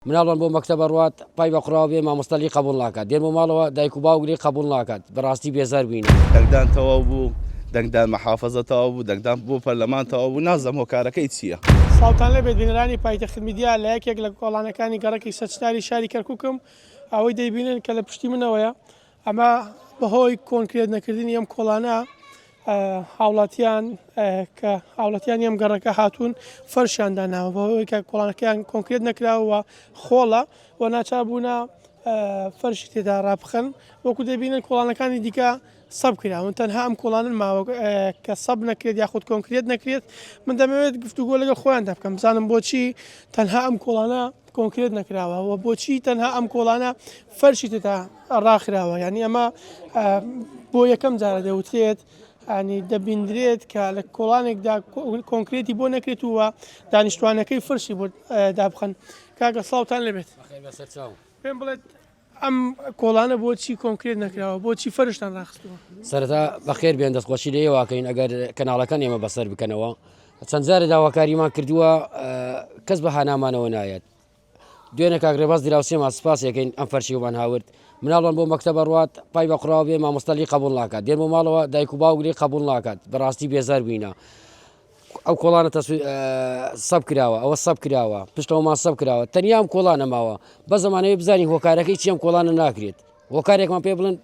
مناڵمان بۆ مەکتەب ئەڕوات پای بە قوڕاوە بێ مامۆستا لێی قەبوڵ ناکات دێن بۆ ماڵەوە دایک و باوک لێی قەبوڵ ناکات بەڕاستی بێزار بووینەوە. دەنگدان تەواو بوو دەنگدان محافظە تەواو بوو دەنگدان بۆ پەرلەمان تەواو بوو نازم هۆکارەکەی چییە. سڵاوتان لێبێت بینەرانی پایتەخت میدیا لە یەکێک لە کۆڵانەکانی گەڕەکی سەرچتاری شاری کەرکوکم ئەوەی دەیبینن کە لە پشتی منەوەیە ئەمە بەهۆی کۆنکرێت نەکردنی ئەم کۆڵانە هاوڵاتیان کە هاوڵەتیانی ئەم گەڕەکە هاتوون فەرشیان داناوە بەهۆی کە کۆڵانەکەیان کۆنکرێت نەکراوە خۆڵە و ناچبووە فەرش تێدا ڕاپخن وەکو دەبینن کۆڵانەکانی دیکە سەب کراون تەنها ئەم کۆڵانن ماوە کە سەب نەکرێت یاخود کۆنکرێت نەکرێت من دەمەوێت گفتوگۆ لەگە خۆیان دەبکەم بزانم بۆچی تەنها ئەم کۆڵانە کۆنکرێت نەکراوە و بۆچی تەنها ئەم کۆڵانە فەرشی تێدا ڕاخراوە یانی ئەمە بۆ یەکەم جارە دەوترێت ینی دەبیندرێت کە لە کۆڵانێکدا کۆنکرێتی بۆ نەکرێت ووە دانیشتوانەکەی فرشی بۆ دابخەن کاکە ساوتان لەبێت پێم بڵێت ئەم کۆڵانە بۆچی کۆنکرێت نەکراوە بۆچی فەرشتان ڕاخستەوە سەرتا بەخێر بێن دەستخۆشی لێ واکەین ئەگەر کەناڵەکان ئێمە بەسەر بکەنەوە چەند جارە داواکاریمان کردووە کەس بە هانامانەوە نایەت دوێنێ کاک رێباز دراوسێمان سپاسی ئەکەین ئەم فەرشی بۆمان هاورد مناڵمان بۆ مەکتەبە ڕوات پای بە قڕاو بێ مامۆستا لی قبول ناکات دێن بۆ ماڵەوە دایک و باوک لی قبول ناکات بەڕاستی بێزار بووینە ئەو کۆڵانە سەب کراوە ئەوە سەب کراوە پشتەوەمان سەب کراوە تەنیام کۆڵانە ماوە بە زمانەوەی بزانین هۆکارەکەی چیەم کۆڵانە ناکرێت هۆکارێکمان پێ بڵێن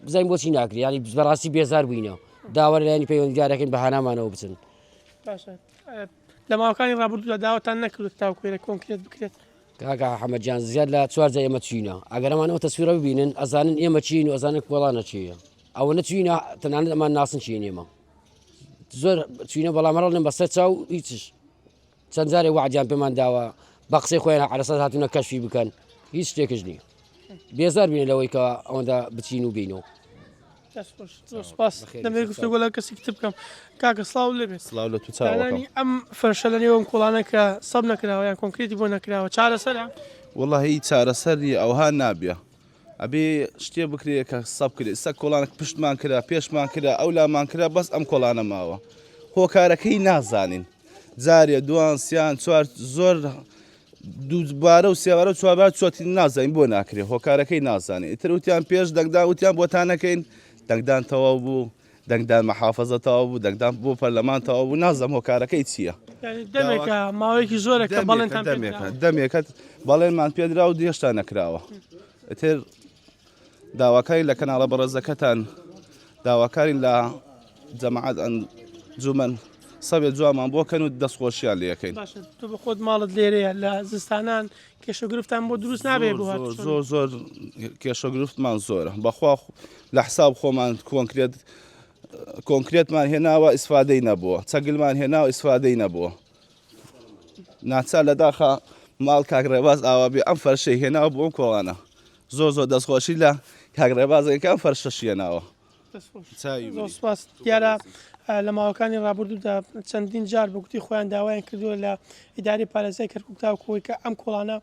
بزانین بۆچی ناکرێت ینی بەڕاستی بێزار بووینە داوەرلایانی پەیوەندگارەکەین بە هانامانەوە بچن لە ماوەکانی ڕابردوودا داوەتان نەکردێت تاوکوێرە کۆنکرێت بکرێت کاکە حەمەجان زیاد لە چوار جا ئێمە چینە ئەگەرمانەوە تەسویرە ببینن ئەزانن ئێمە چین و ئەزانن کۆڵانە چیە ئەوە نەچینە تەنانەت ئەمان ناسن چین ئێمە زۆر چینە بەڵامەڕڵ لەم بەسەر چاو هیچش چەند جارێ وعدیان پێمان داوە بە قسەی خۆیان عرەسە هاتوونە کەشی بکەن هیچ شتێکش نییە بێزار بینە لەوەی کە ئەوەندا بچین و بینەوە دەست خۆش زۆر چاوەڕێ. سوپاس بەخێر دەمەوێت یەکسەر گفتوگۆ چاو. لەگەڵ کەسێکی تر بکەم کاکە سڵاو لێبێت سڵاو لە تو چاوەکەم. دانانی ئەم فەرشە لە نێو ئەم کۆڵانە کە سەب نەکراوە یان کۆنکرێتی بۆ نەکراوە چارەسەرە؟ وەڵا هی چارەسەر نیە ئەوها نابیا ئەبێ شتێ بکرێ کە سەب کرێ ئیستا کۆڵانەک پشتمان کرا پێشمان کرا ئەولامان کرا بەس ئەم کۆڵانە ماوە هۆکارەکەی نازانین جارێ دوان سیان چوار زۆر دووبارە و سێبارە و چواربارە چۆتی نازانین بۆ ناکرێت هۆکارەکەی نازانین ئیتر وتیان پێش دەنگدا وتیان بۆتان نەکەین دەنگدان تەواو بوو دەنگدان مەحافظە تەواو بوو دەنگدان بۆ پەرلەمان تەواو بوو نازەم هۆکارەکەی چییە دەمێکە ماوەیەکی زۆرەکە بەڵێن دەمێکە دەمێکەت بەڵێنمان پێدرا و دێشتا نەکراوە ئیتر داواکارین لە کەناڵە بەڕێزەکەتان داواکارین لە جەماعەت ئەنجومەن سەوێ جوانمان بۆ کەن و دەستخۆشیان لەکەین تو بە خۆت ماڵت لێرەیە لە زستانان کێشە گرفتان بۆ دروست نابێ زۆر زۆر کێشە گرفتمان زۆرە بەخوا لە حساب خۆمان کۆنکرێت کۆنکرێتمان هێناوە ئیسفادەی نەبووە چەگلمان هێناوە ئیسفادەی نەبووە ناچار لە داخە ماڵ کاک ڕێباز ئاوابێ ئەم فەرشەی هێناوە بۆ ئەم کۆڵانە زۆر زۆر دەستخۆشی لە کاک ڕێبازێکە ئەم فەرشە شیێناوە سپاس دیارە لە ماوەکانی ڕابردوودا چەندین جار بگوتی خۆیان داوایان کردووە لە ئیداری پارێزای کەرکک تاوکوی کە ئەم کۆڵانە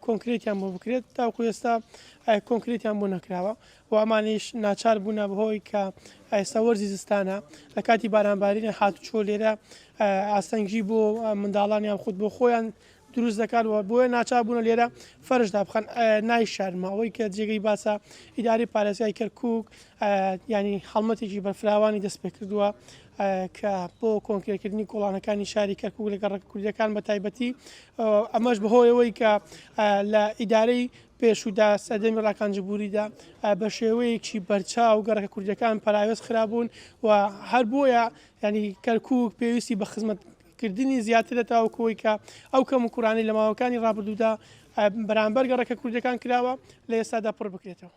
کۆنکرێتیان بۆ بکرێت تاوکو ئێستا کۆنکرێتیان بۆ نەکراوە و ئەمانیش ناچار بوونە بەهۆی کە ئێستا وەرزی زستانە لە کاتی بارانبارینە هاتوچۆ لێرە ئاستەنگی بۆ منداڵان یان خود بۆ خۆیان دروست دەکات و بۆیە ناچار بوونە لێرە فەرشدا بخەن نایشارمە ئەوەی کە جێگەی باسە ئیداری پارێزگای کەرکک ینی هەڵمەتێکی بەرفراوانی دەست پێ کردووە کە بۆ کۆنکرێکردنی گوڵانەکانی شاری کەرکک لەگە ڕێک کوردەکان بە تایبەتی ئەمەش بەهۆیەوەی کە لە ئیدارەی پێشوودا، سەردەمی ڕاکانجبووریدا، بە شێوەیەکی بەرچاو گەڕەکە کوردیەکان پەراوێز خرابوون و هەر بۆیە ینی کەرکک پێویستی بە خزمەت کردنی زیاترە تاوکەوەی کە ئەو کەم و کورانەی لە ماوەکانی ڕابردوودا بەرامبەر گەڕەکە کوردەکان کراوە لە ئێستادا پڕ بکرێتەوە.